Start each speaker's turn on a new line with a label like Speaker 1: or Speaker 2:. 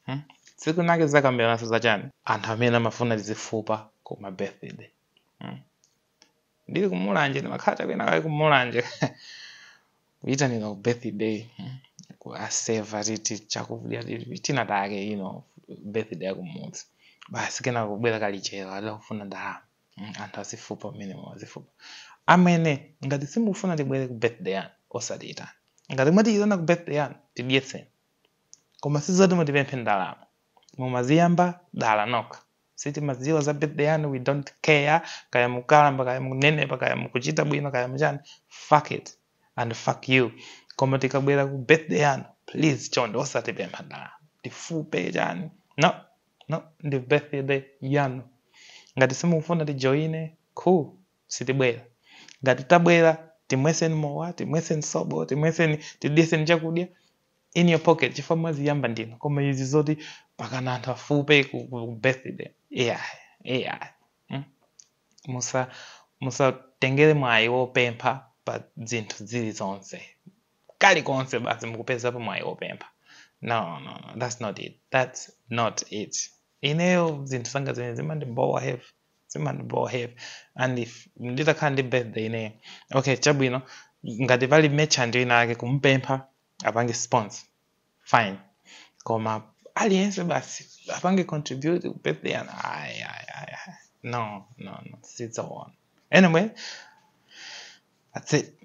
Speaker 1: Hmm? Tsiku linake tizakambirananso za chani? Anthu amene amafuna tizifupa ku ma birthday. Hmm? Ndili ku Mulanje ndimakhala chakwina kale ku Mulanje. Kuitanira ku birthday. Hmm? Kutiseva titi chakudya titi tina take you know birthday ya kumudzi. Basi kena kubwera kalichero adakufuna ndalama. Hmm? Anthu azifupa mmenemo azifupa. Amene ngati simukufuna tibwere ku birthday yanu osatiitana. Ngati mwatiitana ku birthday yanu tidyetseni. koma sizoti mutipemphe ndalama mwaziyamba dala nokha sitimadziwa za birthday yanu we don't care kaya mukalamba kaya munenepa kaya mukuchita bwino kaya muchani fuck it and fuck you koma tikabwera ku birthday yanu please chonde osatipempha ndalama tifupe chani no no ndi birthday yanu ngati simukufuna tijoine cool sitibwera. Ngati tabwera, timwetseni mowa, timwetseni sobo, timwetseni, tidyetseni chakudya in your pocket chifukwa mwaziyamba dala. Koma izi zoti pakana anthu afupe ku, ku ku birthday. Yeah, yeah. Mm? Musa musatengere mwayi wopempha pa zinthu zilizonse. Kalikonse basi mukupezapo mwayi wopempha. No, no, no, that's not it. That's not it. Ineyo zinthu zanga zimene zimandibowa heavy. zimandibowa heavy and if nditakhala ndi birthday ineyo okay chabwino ngati pali merchant ina ake kumupempha apange sponsor fine koma aliyense basi apange contribute ku birthday yanu ayi ayi ayi ayi. no no no sizoona anyway that's it